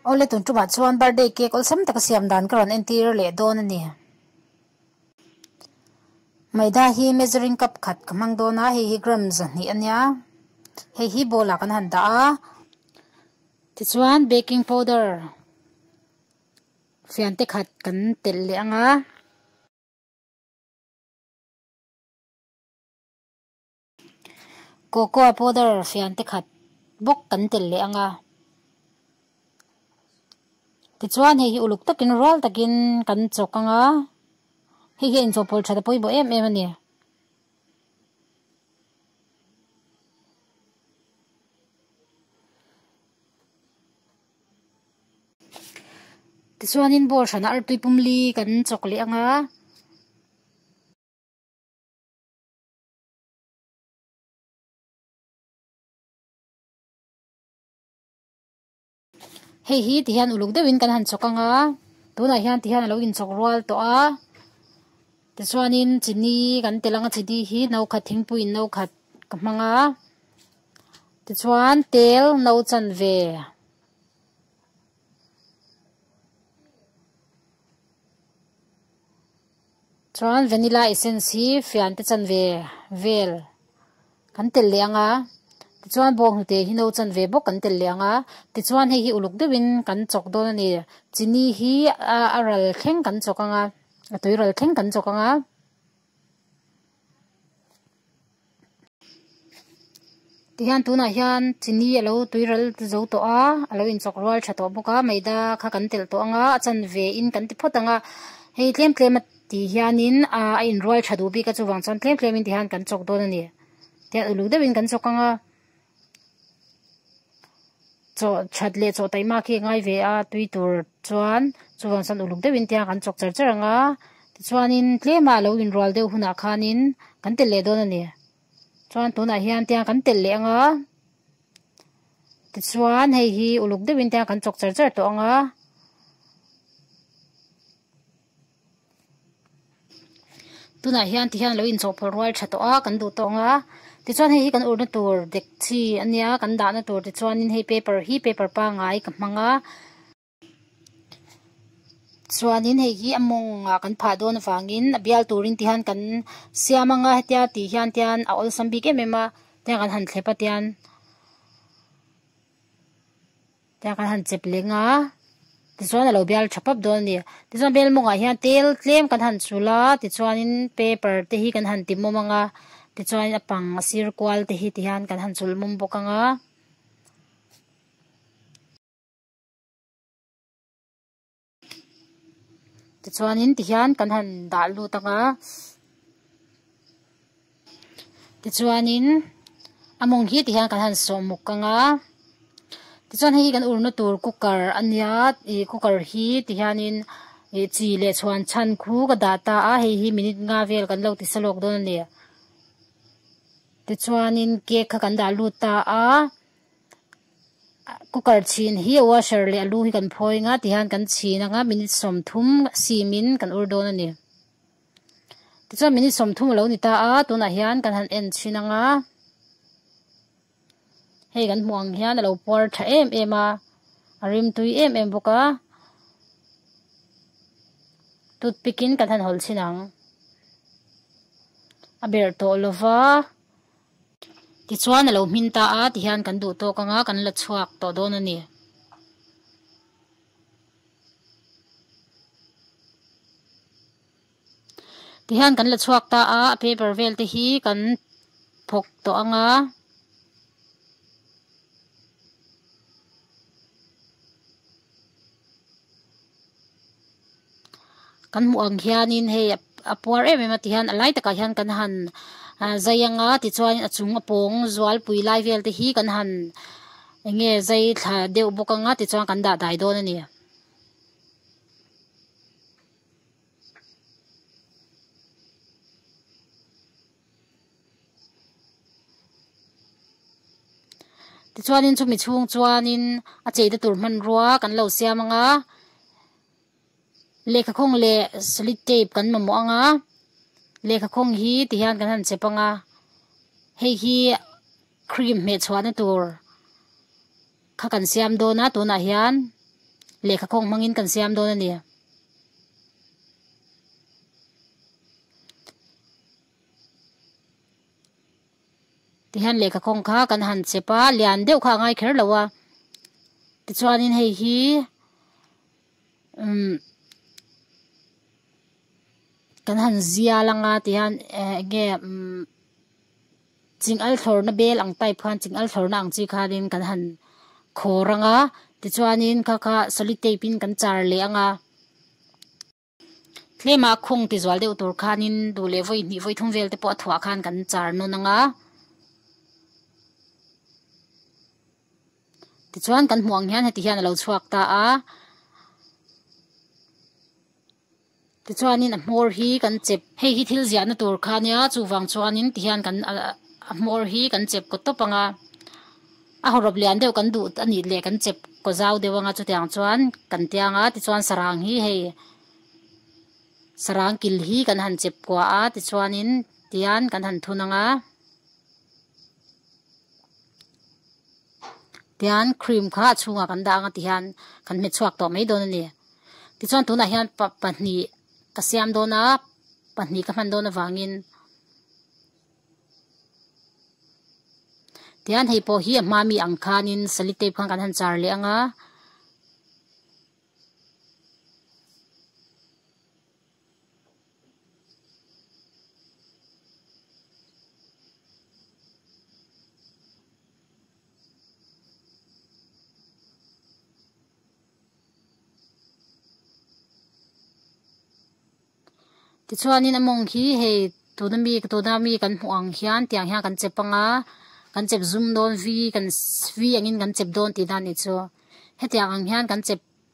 Awle tun tumah chuan birthday cake awlsam taka siam dan ka rawn entir leh dawn a ni. Maida hi measuring cup khat ka hmang dawn a, hei hi gram zahnih a nia. Hei hi bowl ah kan han dah a. Tichuan baking powder fian te khat kan telh leh ang a. Cocoa powder fian te khat bawk kan telh leh ang a. Tichuan hei hi uluk takin rual takin kan chawk ang a. Hei hian inchawhpawlh that a pawimawh em em a ni. Tichuanin ball hrana artui pumli kan chawk leh ang a. Hei hi ti hian uluk deuhin kan han chawk anga tunah hian ti hian a lo inchawk rual tawh a tichuanin chini kan tel anga chini hi no khat thingpuiin no khat ka hmang a tichuan tel no chan ve Chuan vanilla essence hi fian te chan ve vel kan tel leh anga tichuan bawng hnute hi no chan ve bawk kan tel leh anga tichuan hei hi uluk deuhin kan chawk dawn a ni chini hi a ral thleng kan chawk anga a tui ral thleng kan chawk anga. Ti hian tunah hian chini a lo tui ral zo tawh a a lo inchawk rual tha tawh bawk a meida kha kan telh tawh ang a a chan ve in kan ti phawt ang a hei tlem tlem a ti hian in ahh a in rual tha duh bik a chuvang chuan tlem tlem in ti hian kan chawk dawn a ni tih a uluk deuh in kan chawk ang a. Chawhchat leh chawh taima khi a ngai ve a, tui tur chuan chuan sa'n uluk deuhin tiang kan chawk cher cher ang a, tichuanin tlema lo inrual deuh hunah khanin kan telh leh dawn a ni. Chuan tunah hian tiang kan telh leh ang a, tichuan hei hi uluk deuhin tiang kan chawk cher cher tawh ang a. tunah hian ti hian lo in chawhpawlh rual tha tawh a kan duh tawh ang a tichuan hei hi kan urna tur dekchi a nia kan dahna tur te chuanin hei paper hi paper pangai ka hmang a chuanin hei hi a mawng ah kan phah dawn avangin a bial turin ti hian kan siam anga hetia ti hian tian a awlsam bik em em a tiang kan han thlep atian. Tlai kan han chep leng a, tichuan a lo bial tha pap dawn a ni. Tichuan bel mawngah hian tel tlem kan han sulh a, tichuanin paper te hi kan han ti mawm ang a, tichuanin a pang a sir kual te hi ti hian kan han sulh mawm bawk ang a. tichuanin tihian kan han dah lut anga tichuanin a mawng hi tihian kan han sawh muk anga tichuan hei hi kan urna tur cooker a nia ih cooker hi tihianin ih chi leh chhuan chhan khu ka dah ta a hei hi minute nga vel kan lo ti sa lawk dawn a ni tichuanin cake kha kan dah lut ta a. Cooker chhin hi a washer leh a lu hi kan phawi nga ti hian kan chhin anga minute sawmthum simin kan ur dawn a ni tichuan minute sawmthum a lo ni ta a tunah hian kan han en thin anga hei kan hmuh ang hian a lo puar tha em em a a rim tui em em bawk a toothpick in kan han hawl thin ang a ber tawh lova. Tichuan a lo hmin ta a, ti hian kan duh tawk anga kan la chhuak tawh dawn a ni. Ti hian kan la chhuak ta a, a paper vel te hi kan phawk tawh anga. kan hmuh ang hianin hei a puar em em ati hian a lai takah hian kan han ahh zai ang a tichuan a chung a pawng zualpui lai vel te hi kan han eng nge zai thla deuh bawk ang a tichuan kan dah dai dawn a ni. Tichuanin chumi chhung chuanin a cheina tur hmanrua kan lo siam anga lehkha khawng leh solid tape kan mamawh anga lehkha khawng hi ti hian kan han chep anga hei hi cream hmeh chhuahna tur-- Kha kan siam dawn a, tunah hian lehkha kawng hmangin kan siam dawn a ni. Tihian lehkha kawng kha kan han chep a, lian deuh kha a ngai kher lo a. Tichuanin hei hi umm kan han zia langa tihian enge umm. Chingal thlawrna bel ang type khan chingal thlawrna ang chi khanin kan han khawr ang a, tichuanin kha kha solitape in kan char leh ang a. Tlema khawng tizual deuh tur khanin duh leh vawi hnih vawi thum vel te pawh a thuah khan kan char nawn ang a. Tichuan kan hmuh ang hian heti hian a lo chhuak ta a. Tichuanin a hmawr hi kan chep. Hei hi thil ziahna tur kha a nia, chuvang chuanin ti hian kan a hmawr hi kan chep kaw tawp ang a. A haw rawp lian deuh kan duh a nih leh kan chep kaw zau deuh ang a, chuti ang chuan kan tia ang a. Tichuan sarang hi hei sarang kil hi kan han chep kuah a, tichuanin tian kan han thun ang a. Tichuan cream kha a chhungah kan dah ang a ti hian kan hmet chhuak tawh mai dawn a ni. Tichuan tunah hian pa pahnih ka siam dawn a, pahnih ka hman dawn avangin tichuan hei pawh hi a hma mi ang khanin sellotape khan kan han char leh ang a. Tichuanin a mawng hi hei tuna mi tuna mi kan hmuh ang hian tiang hian kan che pang a kan chep zum dawn vi kan vi angin kan chep dawn tihna a nih chu hetiang ang hian kan chep--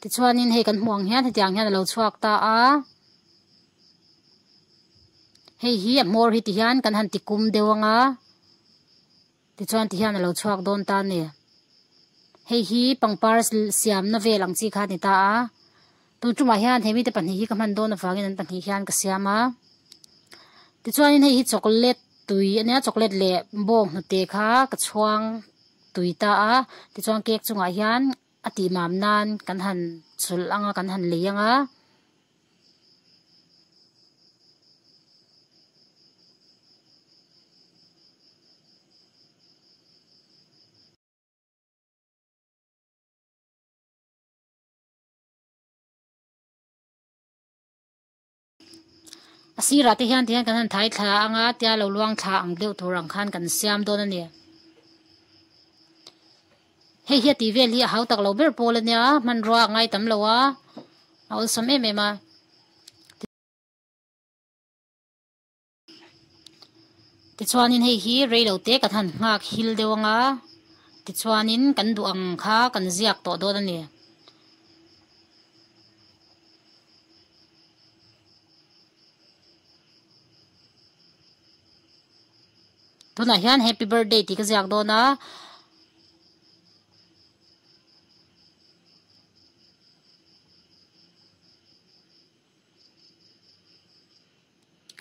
Tichuanin hei kan hmuh ang hian hetiang hian a lo chhuak ta a hei hi a hmawr hi ti hian kan han ti kum deuh ang a tichuan ti hian a lo chhuak dawn ta a ni hei hi pangpar siamna vel ang chi kha a ni ta a. Tun tumah hian he mite pahnih hi ka hman dawn avangin an pahnih hian ka siam a. Tichuanin hei hi chocolate tui a nia, chocolate leh bawng hnute kha ka chhuang tui ta a. Tichuan cake chungah hian a tihmam nan kan han chhulh ang a, kan han lei ang a. A sirah te hian tihian kan han thai thla ang a tia lo luang thla ang deuh tur ang khan kan siam dawn a ni hei hi a tih vel hi a hau tak lo ber pawl a nia hmanrua a ngai tam lo a a awlsam em em a. Tichuanin hei hi reilo te kan han nghak hil deuh anga tichuanin kan duh ang kha kan ziak tawh dawn a ni. Tunah hian happy birthday tih ka ziak dawn a.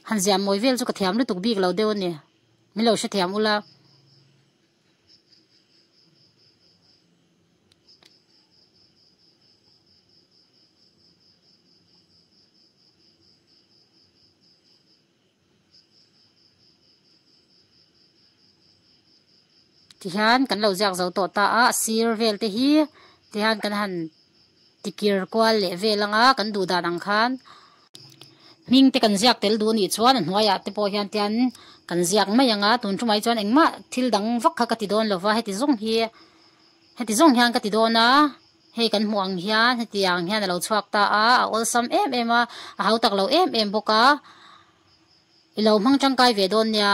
Han ziah mawi vel chu ka thiam lutuk bik lo deuh a ni. Min lo hrethiam ula. Tihian kan lo ziak zo tawh ta a, a sir vel te hi tihian kan han. Tikir kual leh vel anga kan duh dan ang khan hming te kan ziak tel duh a nih chuan a hnuaiah te pawh hian tian kan ziak mai ang a, tun chu mai chuan engmah thil dang vak kha ka ti dawn lo va, heti zawng hi heti zawng hian ka ti dawn a, hei kan hmuh ang hian heti ang hian a lo chhuak ta a, a awlsam em em a, a hau tak lo em em bawk a, i lo hmang tangkai ve dawn nia.